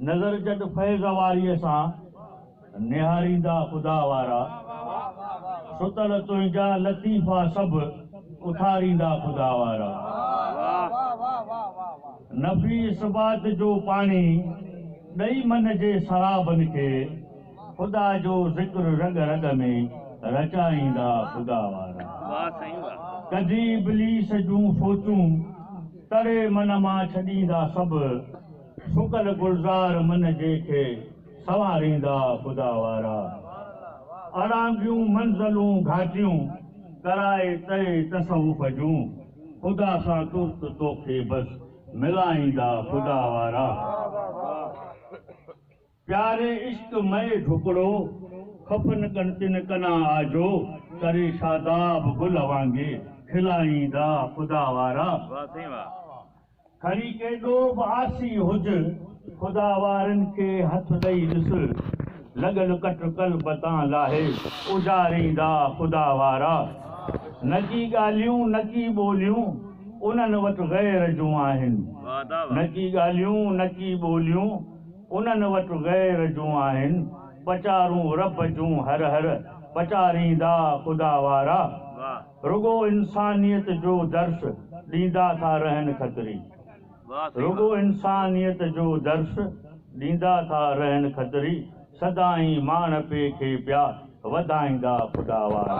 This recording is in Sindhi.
نظر جڏ فيض واريء سان، نهاريندا خدا وارا، ستل تنهنجا لطيفا سڀ، اٿاريندا خدا وارا. نفي اثبات جو پاڻي، ڏئي من جي سرابن کي. خدا جو ذڪر رڳ رڳ ۾ رچائيندا خدا وارا. ڪڍي ابليس جون سوچون تڙي من مان ڇڏيندا سڀ سڪل گلزار من جي کي سنواريندا خدا وارا. اڙانگيون منزلون گهاٽيون ڪرائي تري تصوف جون خدا سان ترت توکي بس ملائيندا خدا وارا. پياري عشق مئي ڍڪڙو، خفن ڪن تن ڪنا آجو، تري شاداب گل وانگي، کلائيندا خدا وارا. واھ سائين واھ. کڻي ڪيڏو به آسي هج، خدا وارن کي هٿ ڏئي ڏس، لڳل ڪٽ قلب تان لاهي، اجاريندا خدا وارا. نڪي ڳالهيون نڪي ٻوليون، انهن وٽ غير جون آهن. نڪي ڳالهيون نڪي ٻوليون. انهن وٽ غير جون آهن پچارون رب جون هر هر پچاريندا خدا وارا رڳو انسانيت جو درس ڏيندا ٿا رهن کتري رڳو انسانيت جو درس ڏيندا ٿا رهن کتري سدائين ماڻهپي کي پيا وڌائيندا خدا وارا.